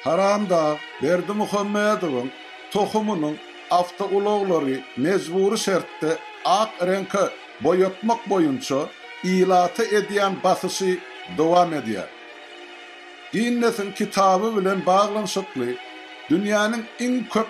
Haramdag Berdimuhamedowyň tohumynyň awtoulaglary mejbury şertde ak reňke boýatmak boýunça ilata edýän basyşy dowam edýär. Ginnesiň kitaby bilen baglanyşykly dünýäniň iň köp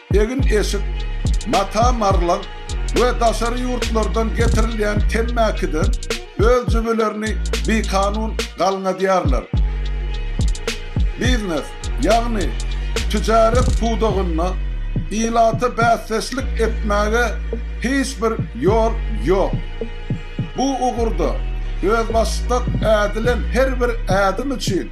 Egin-eşik, mata-marlaň we daşary ýurtlardan getirilýän temmäkiden öz jübülerini bikanun galňadýarlar. Biznes, ýagny tüjaret pudagynda ilata bäsdeşlik etmäge hiç bir ýol ýok. Bu ugurda özbaşdak ädilen her bir ädim üçin